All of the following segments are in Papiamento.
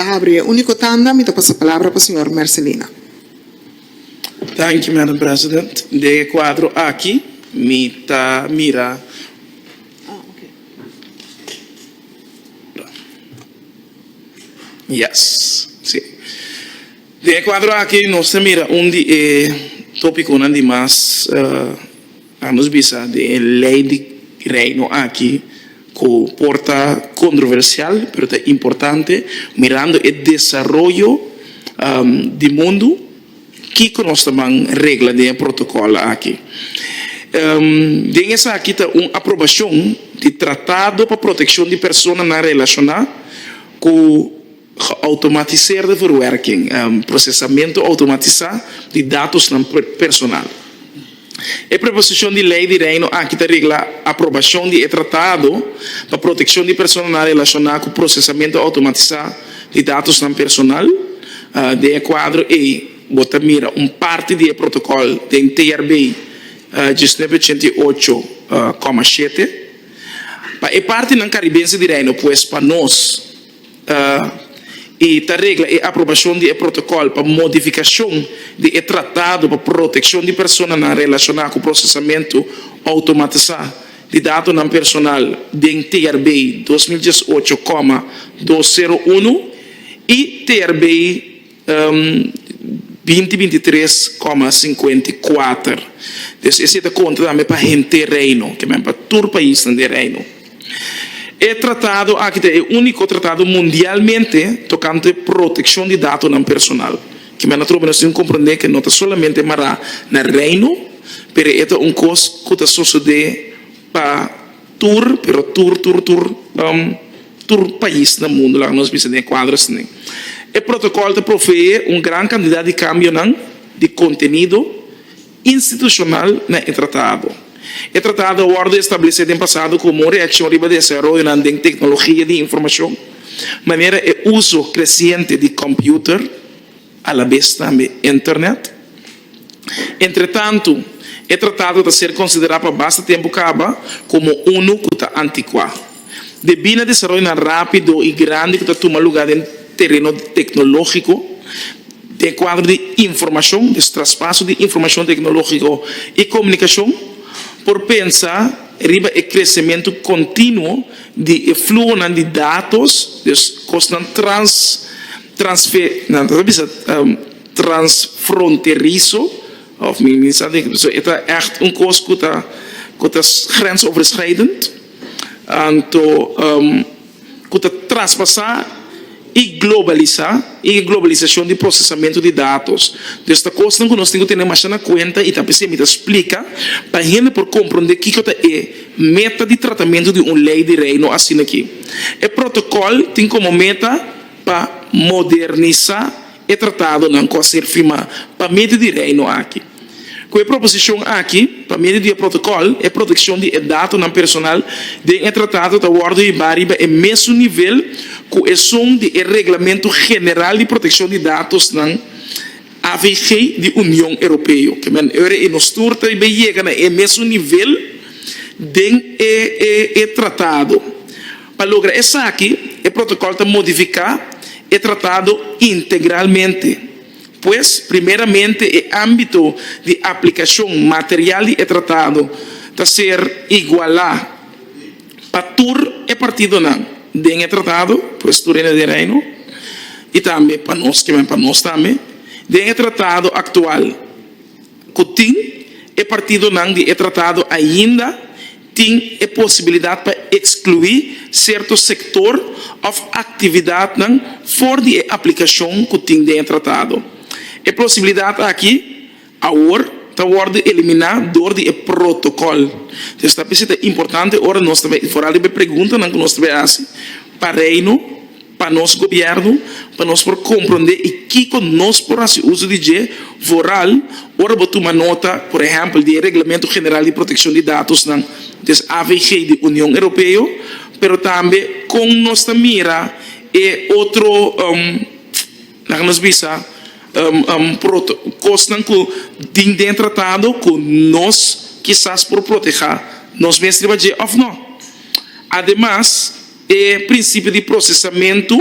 Ta abri e unico tanda mi ta pasa palabra pa señor Mercelina. Thank you Madam President. Den e cuadro aki mi ta mira yes si den e cuadro aki nos ta mira un di e topiconan di mas. A nos bisa di e lei di Reino aki ku por ta kontroversial, pero ta importante mirando e desaroyo di mundu, kiko nos ta ban regla den e protokòl aki. Den esaki ta un aprobashon di Tratado pa Protekshon di Personanan Relashoná ku. Geautomatiseerde verwerking, procesamentu automatisá di datosnan personal. E preposishon di lei di Reino aki ta regla aprobashon di e tratado pa protekshon di personanan relashoná ku procesamentu automatisá di datosnan personal. Den e kuadro ei bo ta mira un parti di e protokòl den TRB diecinueve ochenta y ocho koma shete. Pa e partinan karibense di Reino, pues pa nos. i ta regla e aprobashon di e protokòl pa modifikashon di e Tratado pa Protekshon di Personanan Relashoná ku Prosesamentu Outomatisá di Datonan Personal den TRBEI dos mil diesocho koma dos sero unu i TRBEI binti binti tres koma sinkuenta i kuater. Pues esei ta konta tambe pa henter Reino, ke men pa tur paisnan den Reino. E tratado aki ta e úniko tratado mundialmente tokante protekshon di datonan personal, ke men a trobe nos tin komprondé ke no ta solamente mará na Reino, pero e ta un kos ku ta sosodé pa. Tur, pero tur, tur, tur, tur pais na mundu laga nos bisa den e kuadro esei. E protokòl ta provee un gran kantidat di kambionan di kontenido institushonal na e tratado. E tratado a wòrdu establesé den pasado komo un reakshon riba desaroyonan den teknologia di informashon, manera e uso kresiente di kòmpiuter, alabes tambe internet. Entretantu, e tratado ta ser konsiderá pa basta tempu kaba komo unu ku ta antikuá, debí na desaroyonan rápido i grandi ku ta tuma lugá den tereno teknológiko den kuadro di informashon, des traspaso di informashon teknológiko i komunikashon, por pensa riba e kresementu kontinuo di e fluhonan di datos, des kosnan trans. transfronterizo of mi mi sa di so e ta ècht un kos ku ta ku ta grensoverschrijdend anto ku ta traspasá i globalisá i e globalisashon di prosesamentu di datos dus ta kosnan ku nos tin ku tene masha na kuenta i ta p'esei mi ta splika pa hende por komprondé kiko ta e meta di tratamentu di un lei di Reino asin'aki e protokòl tin komo meta. pa modernisá e tratadonan ku a ser firmá pa medio di Reino aki. Ku e proposishon aki, pa medio di e protokòl, e protekshon di e datonan personal den e tratado ta wòrdu hibá riba e mesun nivel ku esun di e Reglamentu General di Protekshon di Datosnan, AVG, di Union Europeo. Ora e nos tur ta bai yega na e mesun nivel den e tratado, Pa logra esaki, e protokòl ta modifiká e tratado integralmente. Pues, primeramente e ámbito di aplikashon material di e tratado ta ser igualá pa tur e partidonan den e tratado, pues tur hende di e Reino, i tambe pa nos kimen pa nos tambe, den e tratado aktual. ku tin e partidonan di e tratado ainda tin e posibilidat pa ekskluí serto sektor òf aktividatnan for di e aplikashon ku tin den e tratado. E posibilidat aki awor ta wòrdu eliminá dor di e protokòl. Pues ta p'esei ta importante ora nos ta bai foral riba e preguntanan ku nos ta bai hasi pa Reino, pa nos gobièrnu pa nos por komprondé i kiko nos por hasi uso di dje vooral ora bo tuma nota, por ehèmpel, di e Reglamento General di Protekshon di Datosnan, des avg, di Union Europeo, pero tambe kon nos ta mira e otro, laga nos bisa, kosnan ku tin den e tratado ku nos kisas por protehá nos mes riba dje òf nò. Ademas. E prinsipio di prosesamentu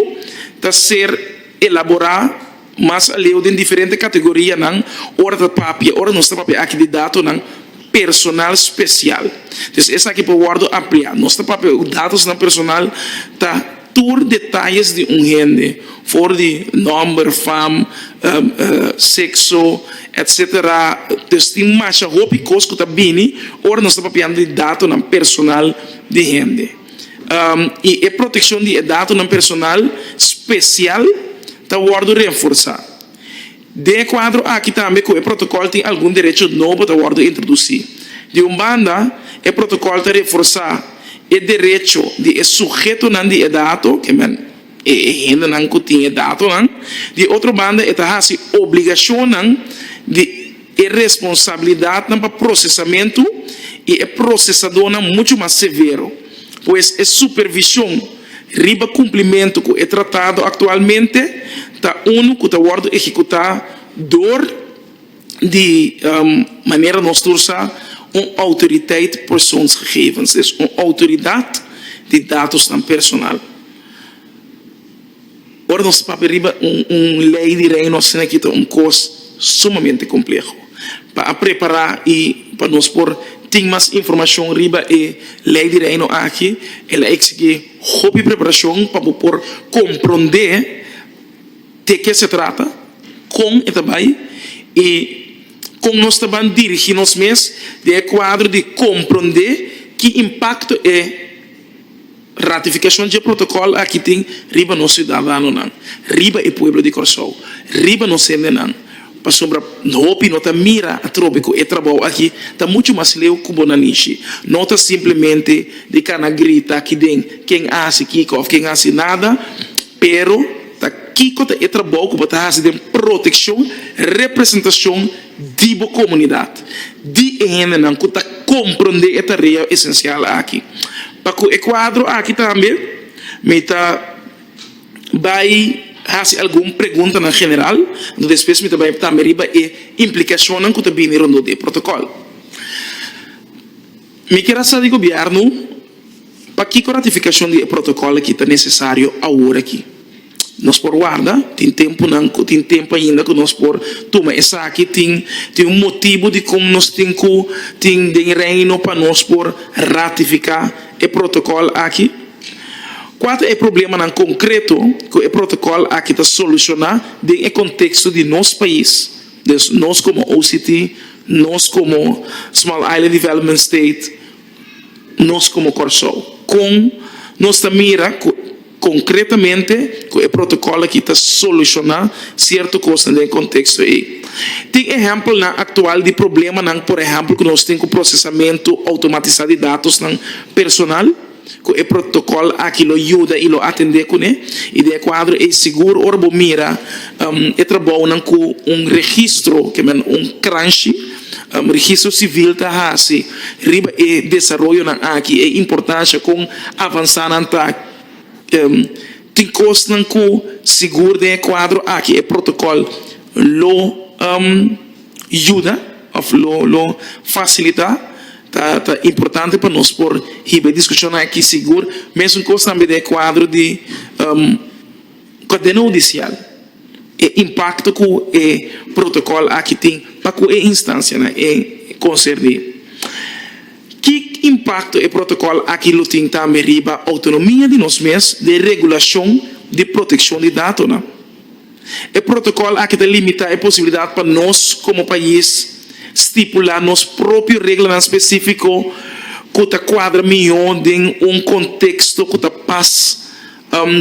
ta ser elaborá mas aleu den diferente kategorianan ora ta papia, ora nos ta papia aki di datonan personal spesial. Entonces esaki por wòrdu ampliá. Nos ta papia ku datosnan personal ta tur detayes di un hende, for di nòmber, fam, sekso, etc. Entonces tin masha hopi kos ku ta bini ora nos ta papiando di datonan personal di hende. i e protekshon di e datonan personal spesial ta wòrdu renforsá. Den e kuadro aki tambe ku e protokòl tin algun derecho nobo ta wòrdu introdusí. Di un banda, e protokòl ta renforsá e derecho di e sugetonan di e dato, kemen. E hendenan ku tin e datonan, di otro banda e ta hasi obligashonnan di e responsabilidatnan pa prosesamentu i e prosesadónan muchu mas severo. Pues e supervishon riba kumplimentu ku e tratado aktualmente ta unu ku ta wòrdu ehekutá dor. di manera nos ta usa un autoriteit persoonsgegevens, des un autoridad di datosnan personal. Ora nos ta papia riba un ley di Reino asina aki ta un cos sumamente compleho pa a prepara y pa nos por tin mas informacion riba e ley di Reino aki el a exigi hopi preparacion pa bo por compronde, Te ke se trata, kon e ta bai i kon nos ta ban dirigí nos mes den e kuadro di komprondé ki impakto e ratifikashon dje protokòl aki tin riba nos siudadanonan, riba e pueblo di Kòrsou, riba nos hendenan. Pasobra hopi no ta mira atrobe ku e trabou aki ta muchu mas leu ku bo nan nishi. No ta simplemente di kana grita aki den ken a hasi kiko òf ken a hasi nada. Pero, ta kiko ta e trabou ku bo ta hasi den protekshon representashon di bo komunidat? Di e hendenan ku ta komprondé e tarea esensial aki. Pa ku e kuadro aki tambe mi ta bai hasi algun preguntanan general, despues mi ta bai tambe riba e implikashonnan ku ta bini rondó di e protokòl. Mi kier a sa di Gobierno pakiko ratificacion di e protocol aki ta necesario awor aki. Nos por warda, tin temponan cu tin tempo ainda cu nos por tuma esaki, tin tin un motibo dicon nos tin cu tin den e Reino pa nos por ratifica e protocol aki. Cua ta e problemanan concreto cu e protocol aki ta soluciona den e contexto di nos pais? Dus nos komo OCT, nos komo Small Island Development State, nos komo Kòrsou kon nos ta mira ku konkretamente ku e protokòl aki ta solushoná sierto kosnan den e konteksto ei. Tin ehèmpelnan aktual di problemanan, por ehèmpel ku nos tin ku prosesamentu outomatisá di datosnan personal. Cu e protocol aki lo yuda y lo atende cune y den e cuadro ey sigur ora bo mira e trabounan cu un registro ke men un kranshi registro civil ta haci riba e desaroyonan aki e importancia con avansa nan ta tin cosnan cu sigur den e cuadro aki e protocol lo yuda of lo lo fasilita ta ta importante pa nos por hiba e diskushonnan aki sigur. Mesun kos tambe den e kuadro di kadena hudisial, e impakto ku e protokòl aki tin pa ku e instansianan e konserní. Ki impakto e protokòl aki lo tin tambe riba outonomia di nos mes den regulashon di protekshon di datonan? E protokòl aki ta limitá e posibilidat pa nos komo pais stipulá nos propio reglanan spesífiko ku ta kuadra mihó den un konteksto ku ta pas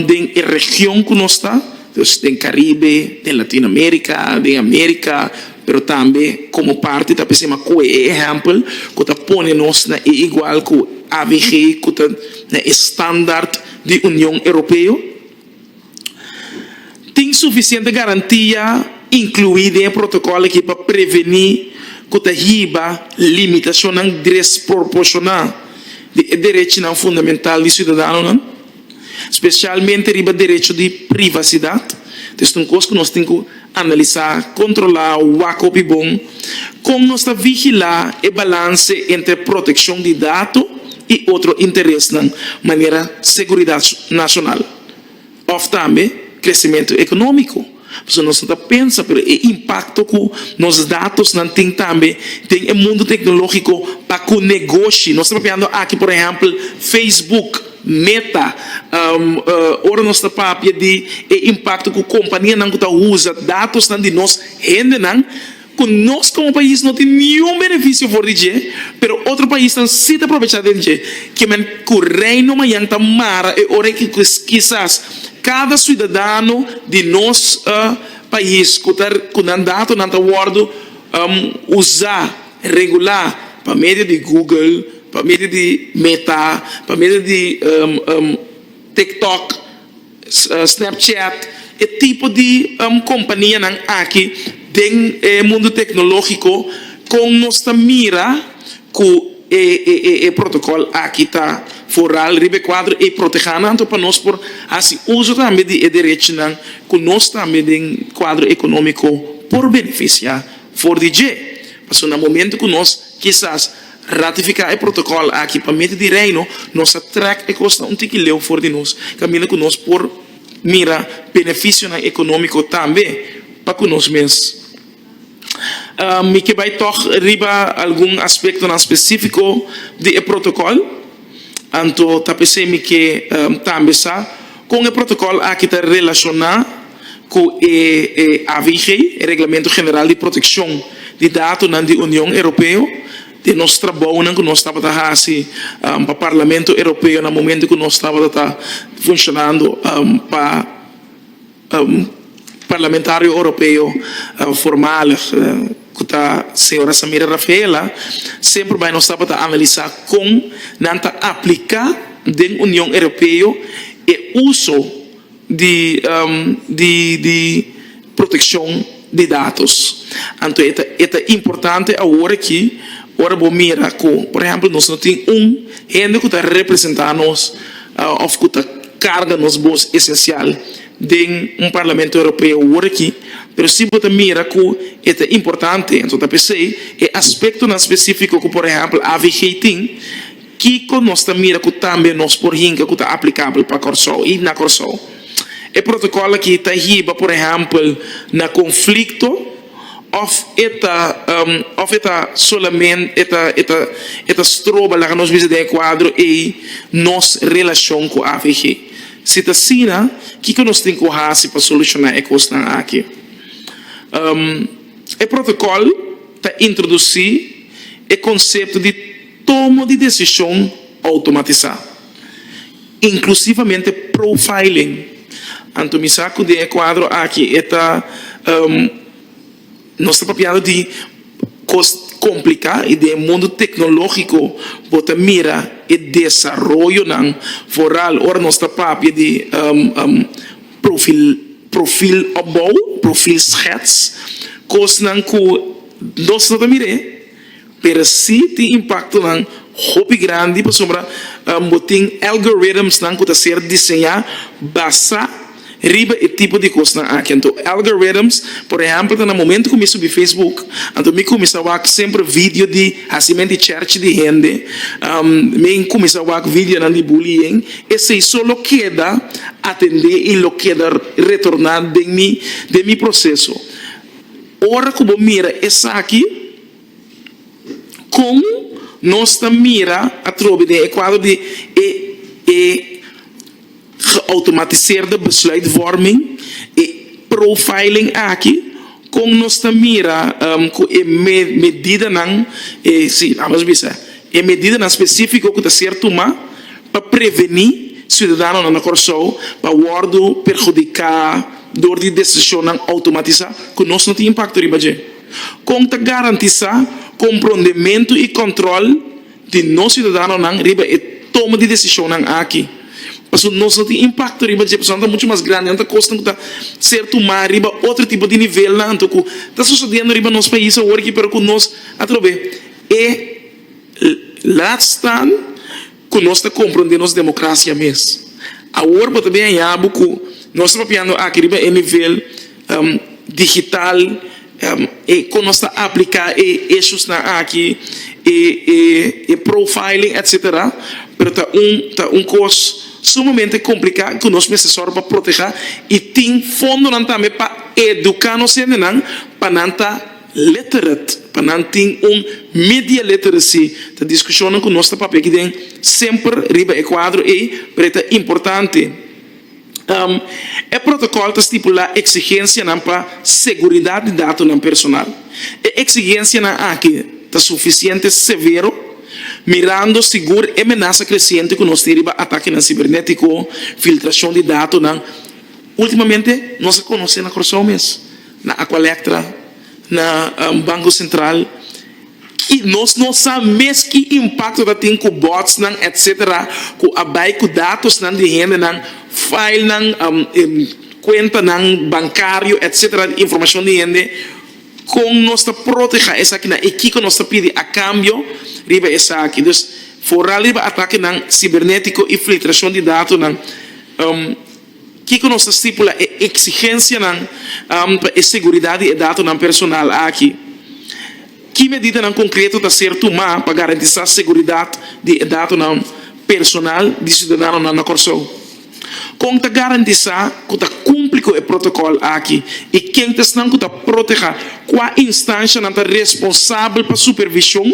den e region ku nos ta, dus den Karibe, den Latinoamerika, den Amerika, pero tambe komo parti ta p'esei m'a kohe e ehèmpel ku ta pone nos na e igual ku avg ku ta na e standaard di Union Europeo. Tin sufisiente garantia inkluí den e protokòl akí pa prevení ku ta hiba limitashonnan desproporshoná di e derechinan fundamental di siudadanonan, spesialmente riba derecho di privasidat, ta esei un kos ku nos tin ku. Analisá, kontrolá o wak hopi bon kon nos ta vigilá e balanse entre protekshon di dato i otro interesnan, manera seguridat nashonal òf tambe kresementu ekonómiko. Pasobra nos no ta pensa, pero e impakto ku nos datosnan tin tambe den e mundu teknológiko pa ku negoshi, nos ta papiando aki por ehèmpel Facebook, Meta, Ora nos ta papia di e impakto ku kompanianan ku ta usa datosnan di nos hendenan, ku nos komo pais no tin niun benefisio for di dje, pero otro paisnan si ta aprovechá den dje, ke men ku Reino Mayan ta mara e ora i ku kisas kada siudadano di nos pais ku ta ku nan datonan ta wòrdu usá. Regulá pa medio di Google, pa medio di Meta, pa medio di TikTok, Snapchat, e tipo di kompanianan aki den e mundu teknologiko kon nos ta mira ku e protokòl aki ta foral riba e kuadro i protehá nan anto pa nos por hasi uso tambe di e derechinan ku nos tambe den kuadro ekonómiko por benefisiá. For di dje, pasobra na momento cu nos, kisas, ratifica e protocol aki pa mete di Reino, nos ta trek e cosnan un tiki leu for di nos, caminda cu nos por mira beneficionan economico tambe pa cu nos mes. Mi ke bay tok riba algun aspectonan specifico di e protocol. Anto ta p'esei mi ke tambe sa kon e protokòl aki ta relashoná ku e AVG, e Reglamento General di Protekshon di Datonan di Union Europeo, den nos trabounan ku nos tabata hasi pa Parlamento Europeo na momento ku nos tabata ta funshonando pa. Parlamentario Europeo voormalig cu ta Señora Samira Rafaela semper bay nos tabata analisa con nan ta aplica den Union Europeo e uso di proteccion. di datos. Anto e ta e ta importante awor aki ora bo mira ku por ehempel nos no tin un hende ku ta representa nos of ku ta karga nos bos esencial den un Parlamento Europeo awor aki pero si bo ta mira ku e ta importante anto ta p'esei e aspectonan specifico ku por ehempel avg tin Kiko nos ta mira ku tambe nos por hinka ku ta aplikabel pa Kòrsou i na Kòrsou? E protokòl aki ta hiba por ehèmpel na konflikto òf e ta òf e ta solamente e ta e ta e ta stroba laga nos bisa den e kuadro ei nos relashon ku avg? Si ta asina, kiko nos tin ku hasi pa solushoná e kosnan aki? E protokòl ta introdusí e konsepto di. Tomo di desishon outomatisá, inklusivamente profiling. Anto mi sa ku den e kuadro aki e ta nos ta papiando di kos kompliká i den e mundu teknológiko bo ta mira e desaroyonan vooral ora nos ta papia di profil opbou, profilschets, kosnan ku nos no ta mir'é. Pero si tin impaktonan hopi grandi pasobra bo tin algoritmsnan ku ta ser diseñá basá riba e tipo di kosnan aki. Anto algoritms, por ehèmpel ta na momentu ku mi subi Facebook, anto mi kuminsá wak semper vidio di hasimen di chèrchi di hende, mi kuminsá wak vidionan di bullying, esei so lo keda atendé i lo keda retorná den mi den mi proseso. Ora ku bo mira esaki, kon nos ta mira atrobe den e kuadro di e e geautomatiseerde besluitvorming, e profiling aki? Kon nos ta mira ku e medidanan, e si, lamas bisa. E medidanan spesífiko ku ta ser tumá pa prevení siudadanonan na Kòrsou pa wòrdu perhudiká dor di desishonnan outomatisá ku nos no tin impakto riba dje? Kon ta garantisá komprondementu i kòntròl di nos siudadanonan riba e toma di desishonnan aki? Pasobra nos no tin impakto riba dje personanan ta muchu mas grandi, nan ta kosnan ku ta ser tumá riba otro tipo di nivelnan anto ku ta susedendo riba nos pais awor aki pero ku nos atrobe E laat staan ku nos ta komprondé nos demokrasia mes. Awor bo ta bin a ya'a bo ku nos ta papiando aki riba e nivel digital, e kon nos ta apliká e eshusnan aki, e profiling etsetera, pero ta un ta un kos sumamente kompliká ku nos mester sòru pa protehá i tin fondonan tambe pa eduká nos hendenan pa nan ta. Lettered pa nan tin un media literacy ta discusionnan cu nos ta papia aki den semper riba e cuadro ey pero e ta importante. E protocol ta stipula exigencianan pa seguridad di datonan personal. E exigencianan aki ta suficiente severo mirando sigur e menasa creciente cu nos tin riba atakenan cibernetico, filtracion di datonan. Ultimamente nos a conoce na Curaçao mes. Na Aqualectra, na Banco Central y nos no sa mes ki impacto ta tin cu botsnan etc. Cu a bay cu datosnan di hendenan, filenan, cuentanan bancario etc. Di informacion di hende. Con nos ta proteha esakinan y kico nos ta pidi a cambio riba esaki. Dus, foral riba atakenan cibernetico y filtracion di datonan. Kiko nos ta stipula e eksigensianan pa e seguridat di e datonan personal aki? Ki medidanan konkreto ta ser tumá pa garantisá seguridat di e datonan personal di siudadanonan na Kòrsou? Kon ta garantisá ku ta kumpli ku e protokòl aki i ken esnan ku ta protehá? Kua instanshanan ta responsabel pa supervishon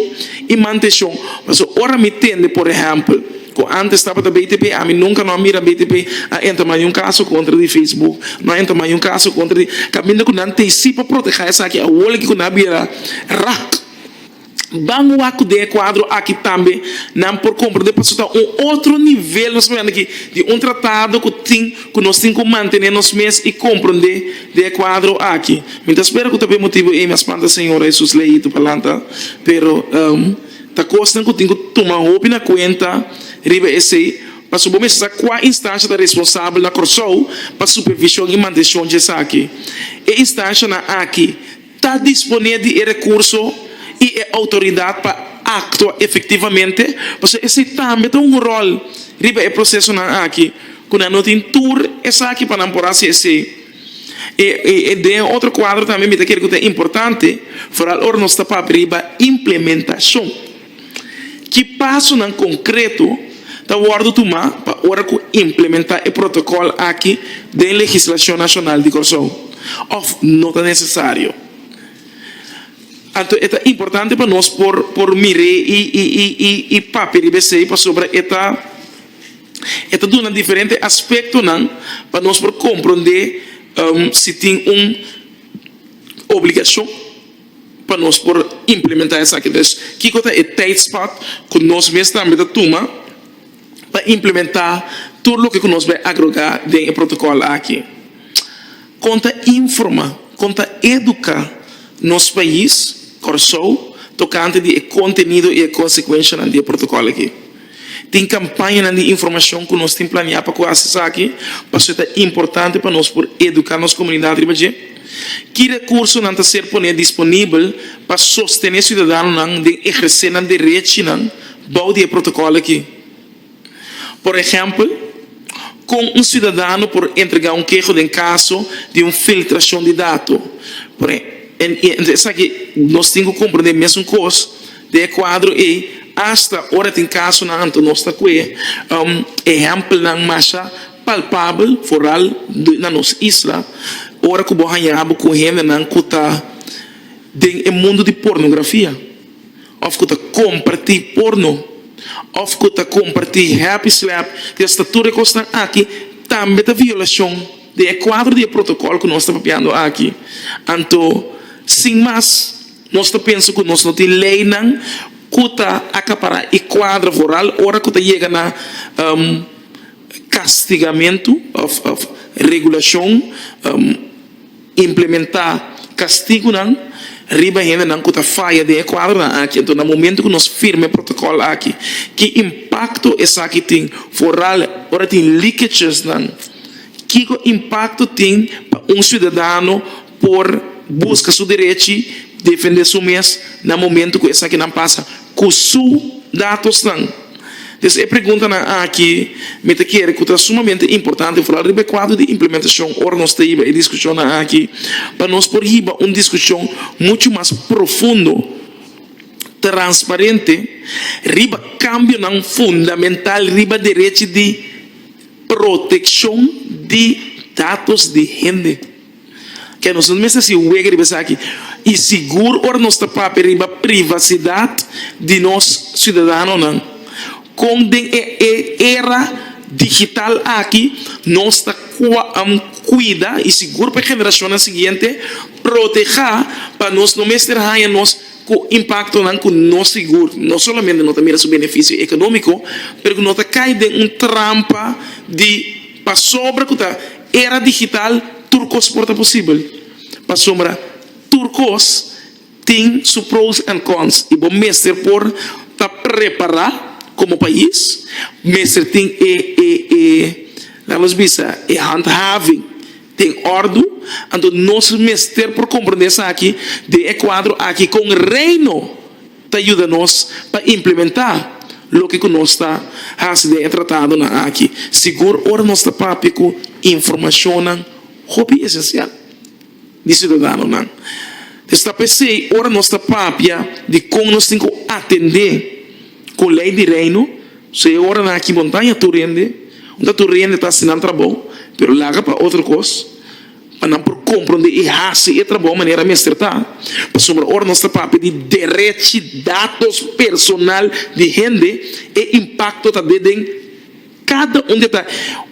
i mantenshon? Pasobra ora mi tende, por ehèmpel. Ku antes tabata BTP, ami nunka no a mira BTP a entra mayun kaso kontra di Facebook, no a entra mayun kaso kontra di, kaminda ku nan ta hisi pa protehá esaki awor leki ku nan a bira rak. Ban wak ku den e kuadro aki tambe nan por komprendé pasobra ta un otro nivel nos hablando aki di un tratado ku tin ku nos tin ku mantené nos mes i komprendé den e kuadro aki. Mi ta spera ku ta p'e motibu ei mi a spanta Señor Hesus lei itu palanta pero. Ta kosnan ku tin ku tuma hopi na kuenta riba esei pasobra bo mester sa kua instansha ta responsabel na Kòrsou pa supervishon i mantenshon di esaki. E instanshanan aki ta disponé di e rekurso i e outoridat pa aktua efektivamente, pasobra esei tambe ta un ròl riba e prosesonan aki ku nan no tin tur esaki pa nan por hasi esei. E den otro cuadro tambe mi ta kere cu ta importante foral ora nos ta papia riba implementacion. Ki pasonan concreto ta wordo tuma pa ora cu implementa e protocol aki den legislacion nacional di Corsou of no ta necesario? Anto e ta importante pa nos por mire y papia riba esey pasobra e ta. E ta duna diferente aspektonan pa nos por komprondé si tin un obligashon pa nos por implementá esaki. Pues, kiko ta e teidspat ku nos mes tambe ta tuma pa implementá tur loke ku nos bai agrogá den e protokòl aki? Kon ta informá, kon ta eduká nos pais, Kòrsou, tokante di e kontenido i e konsekuenshanan di e protokòl akí? Tin kampañanan di informashon ku nos tin planiá pa ku hasi esaki pasobra e ta importante pa nos por eduká nos komunidat riba dje? Ki rekursonan ta ser poné disponibel pa sostené siudadanonan den ehersé nan derechinan bou di e protokòl akí? Por ehèmpel, kon un siudadano por entregá un keho den kaso di un filtrashon di dato? Entre esaki nos tin ku komprendé mesun kos den e kuadro ei, asta ora tin kasonan anto nos ta kue ehèmpelnan masha palpabel, foral na nos isla, ora ku bo haña bo ku hendenan ku ta den e mundu di pornografia. òf ku ta kompartí porno òf ku ta kompartí happy slap i asta tur e kosnan aki tambe ta violashon den e kuadro di e protokòl ku nos ta papiando aki. Anto sin mas nos ta pensa ku nos no tin leinan ku ta akapará e kuadro voral ora ku ta yega na kastigamentu òf regulashon. Implementá kastigunan riba hendenan ku ta faya den e kuadronan aki. Anto na momentu ku nos firma e protokòl aki, ki impakto esaki tin foral ora tin likechesnan? Kiko impakto tin pa un siudadano por buska su derechi, defendé su mes na momentu ku esakinan pasa? ku su datosnan. Des e preguntanan aki mi ta kere ku ta sumamente importante for al riba e kuadro di implementashon ora nos ta hiba e diskushonnan aki pa nos por hiba un diskushon muchu mas profundo, transparente riba kambionan fundamental riba derechi di protekshon di datos di hende. Ke nos no mester hasi wega riba esaki i sigur ora nos ta papia riba privasidad di nos ciudadanonan con den e era digital aki nos ta cuida i sigur pa e generacionnan siguiente proteha pa nos no mester haya nos cu impactonan cu no sigur no solamente no ta mira su beneficio economico pero cu no ta cay den un trampa di pasobra cu ta. Era digital tur kos por ta posibel, pasobra tur kos tin su pros and cons y bo mester por ta prepara como pais, mester tin e e e la nos bisa e handhaving den ordu, anto nos mester por comprende esaki den e cuadro aki con Reino ta yuda nos pa implementá loke ku nos ta hasi den e tratadonan aki sigur ora nos ta papia ku informashonnan hopi esensial di siudadanonan. Esta p'esei ora nos ta papia di kon nos tin ku atendé ku lei di Reino, so e oranan aki bo no ta haña tur hende, no ta tur hende ta hasi nan trabou, pero laga pa otro kos. pa nan por compronde y haci e trabao manera mester ta, pasobra ora nos ta papia di derech y datos personal di hende e impacto ta de den cada un di ta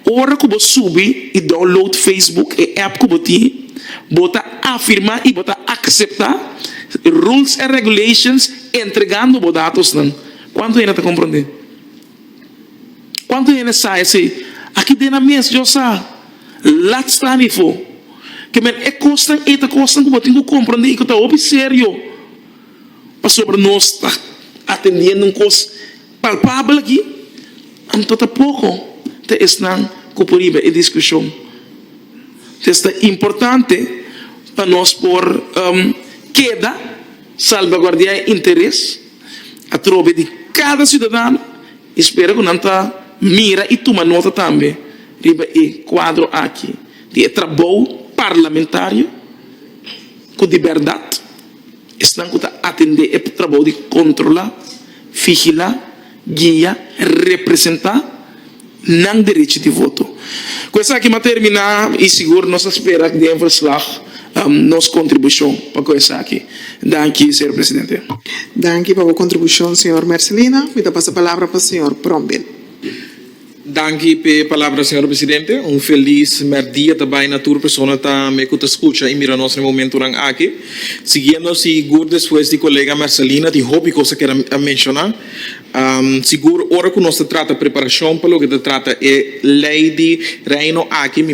ora cu bo subi y download Facebook e app cu bo tin bo ta afirma y bo ta acepta rules and regulations entregando bo datos nan cuanto hende ta compronde. Kuantu hende sa esei? Aki den nan mes yo sa lat sta nifo ke men e kosnan ei ta kosnan ku bo tin ku komprendí i ku ta hopi serio pasobra nos ta atendiendo un kos palpabel aki. Anto ta poko ta esnan ku por hiba e diskushon. Entonces ta importante pa nos por keda salbaguardiá e interes. Atrobe di kada siudadano i spera ku nan ta mira i tuma nota tambe riba e kuadro aki di e trabou parlamentario ku di bèrdat esnan ku ta atendé e trabou di kontrolá, figilá, guia, representá. nan derechi di voto. Ku esaki mi a terminá i sigur nos a spera ku den verslag nos kontribushon pa ku esaki. Danki señor presidente. Danki pa bo kontribushon señor Mercelina. Mi ta pasa palabra pa señor Bromwil. Danki p'e palabra señor presidente. Un felis mèrdia ta bai na tur persona ta me ku ta skucha i mira nos na e momentunan aki. Siguiendo sigur despues di kolega Mercelina tin hopi kos a keda menshoná. Sigur, ora ku nos ta trata preparashon pa loke ta trata e Lei di Reino aki, mi